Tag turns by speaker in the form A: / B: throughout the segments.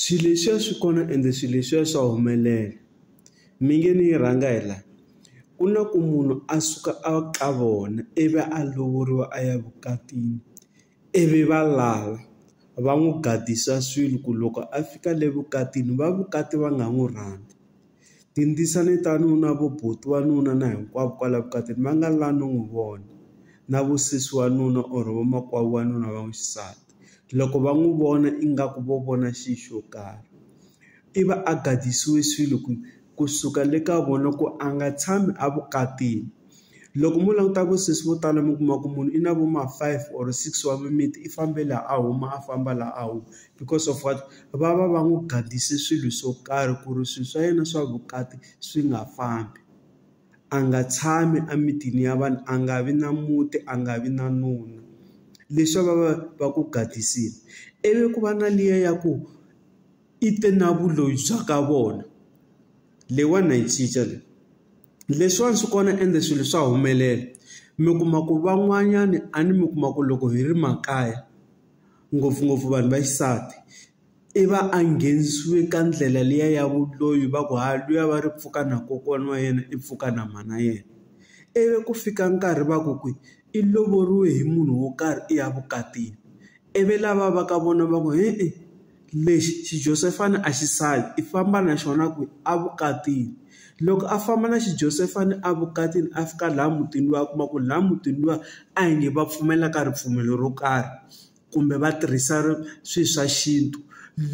A: Swilo leswiya swi kona ende swilo leswiya swa humelela. Mi nge ni yi rhanga hi la, ku na ku munhu a suka a ka vona ivi a lovoriwa a ya vukatini ivi va lava va n'wi gadisa swilo ku loko a fika le vukatini va vukati va nga n'wi rhandza. Tindzisa ni ta ni na vo buti wa nuna na hinkwavo kwala vukatini va nga la no n'wi vona na vo sesi wa nuna or vo makwavo wa nuna va n'wi xisati loko va n'wi vona ingaku vo vona xi xo karhi i va a gadisiwe swilo ku kusuka le ka vona ku a nga tshami a vukatini. loko mo languta vasesi vo tala mi kuma ku munhu i na vo ma five or six wa mimiti i fambe laha a huma a famba laha a wu because of what va va va n'wi gadise swilo swo karhi ku ri swilo swa yena swa vukati swi nga fambi a nga tshami emitini ya vanhu a nga vi na muti a nga vi na nuna leswi va va va ku gadisini ivi ku va na liya ya ku i te na vuloyi bya ka vona leyiwani na yi cinca leyi. Leswiwani swi kona ende swilo swa humelela mi kuma ku van'wanyani a ni mi kuma ku loko hi ri makaya ngopfungopfu vanhu va xisati i va a nghenisiwe ka ndlela liya ya vudloyi va ku ha luya va ri pfuka na kokwana wa yena i pfuka na mhana yena, ivi ku fika nkarhi va ku kwihi i lovoriwe hi munhu wo karhi i ya vukatini ivi lava va ka vona va ku hi i. lexi xijosefa ni a xisati i famba na xona ku a vukatini loko a famba na xi Josefa ni a vukatini a fika laha mutini luwa a kuma ku laha mutini luwa a hi nge va pfumela ka ripfumelo ro karhi kumbe va tirhisa swi swa xintu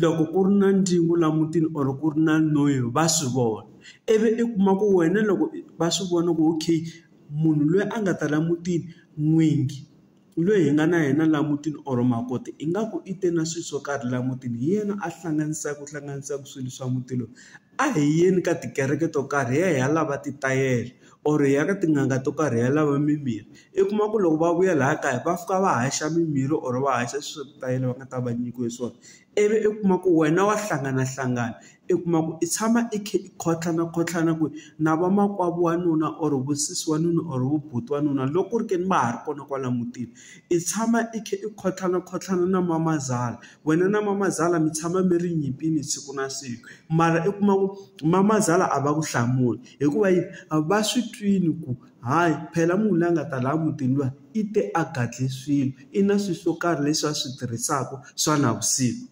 A: loko ku ri na ndyangu laha mutini or ku ri na noyi va swi vona ivi i kuma ku wena loko va swi vona ku okay munhu loyi a nga ta la mutini n'wingi. loyi hi nga na yena laha mutini or makoti ingaku i te na swilo swo karhi laha mutini hi yena a hlanganisaka ku hlanganisaka swilo swa muti lowu a hi yeni ka tikereke to karhi hi ya hi ya lava ti tayela or hi ya ka tin'anga to karhi hi ya lava mimirhi i kuma ku loko va vuya laha kaya va fika va haxa mimirhi or va haxa swilo swa ku tayela va nga ta va nyikiwe swona. ivi u kuma ku wena wa hlanganahlangana u kuma ku i tshama i kha i khotlhanakhotlhana ku na vamakwavo wa nuna or vusesi wa nuna or vu buti wa nuna loko ku ri ke ni va ha ri kona kwala mutini i tshama i kha i khotlhanakhotlhana na mamazala wena na mamazala mi tshama mi ri nyimpini siku na siku mara u kuma ku mamazala a va ku hlamuli hikuva yini va swi twini ku hayi phela munhu loyi a nga ta laha mutini luwa. I te a gadle swilo i na swilo swo karhi leswi a swi tirhisaka swa navusiku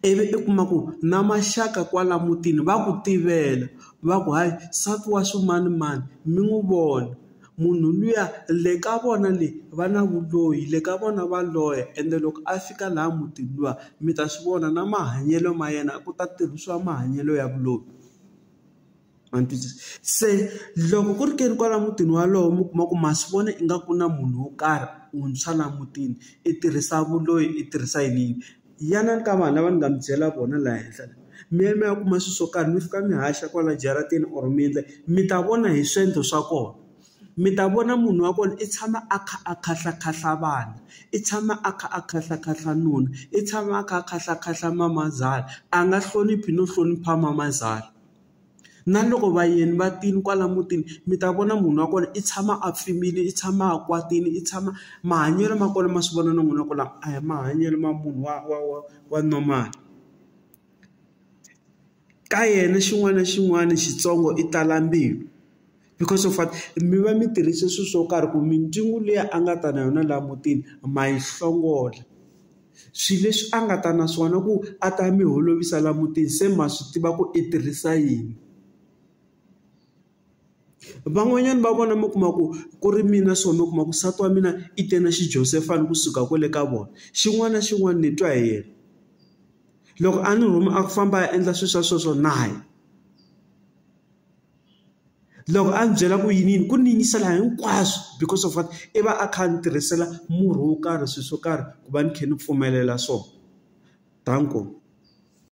A: ivi i kuma ku na maxaka kwala mutini va ku tivela va ku hayi nsati wa swimanimani mi n'wi vona munhu luya le ka vona le va na vuloyi le ka vona va loya ende loko a fika laha mutini luwa mi ta swi vona na mahanyelo ma yena ku ta tirhisiwa mahanyelo ya vuloyi. Ma ni twisisa? Se loko ku ri ke ni kwala mutini wolowo mi kuma ku ma swi vona ingaku ku na munhu wo karhi wuntshwa laha mutini, i tirhisa vuloyi, i tirhisa yini yini. Yanani ka vanhu lava ni nga mi byela vona laha henhla la, mi ya mi ya kuma swilo swo karhi mi fika mi haxa kwala jaratini or mi endla yini, mi ta vona hi swiendlo swa kona. Mi ta vona munhu wa kona i tshama a kha a kahlaklahla vana, i tshama a kha a kahlaklahla nuna, i tshama a kha a kahlaklahla mamazala, a nga hloniphi no hlonipha mamazala. Na loko vayeni va tile kwala mutini mi ta vona munhu wa kona i tshama a pfimbile, i tshama a kwatile, i tshama mahanyelo ma kona ma swi vona na n'wina ku lama a hi mahanyelo ma munhu wa wa wa wa normal. Ka yena xin'wana na xin'wana xitsongo i tala mbilu. because of what mi va mi tirhise swilo swo karhi ku mindzungu liya a nga ta na yona laha mutini ma yi hlongola. Swilo leswi a nga ta na swona ku a ta mi holovisa laha mutini se ma swi tiva ku i tirhisa yini. Van'wanyana va vona mi kuma ku ku ri mina so mi kuma ku nsati wa mina i te na xijosefa ni kusuka kwale ka vona, xin'wana na xin'wana ni twa hi yena. Loko a ni rhuma a ku famba a ya endla swilo swa so swo na ya. loko a ndzi byela ku yiniyini ku ni yingisela hinkwaswo because of what i va a kha a ni tirhisela murhi wo karhi swilo swo karhi ku va ni kha ni pfumelela swona danko.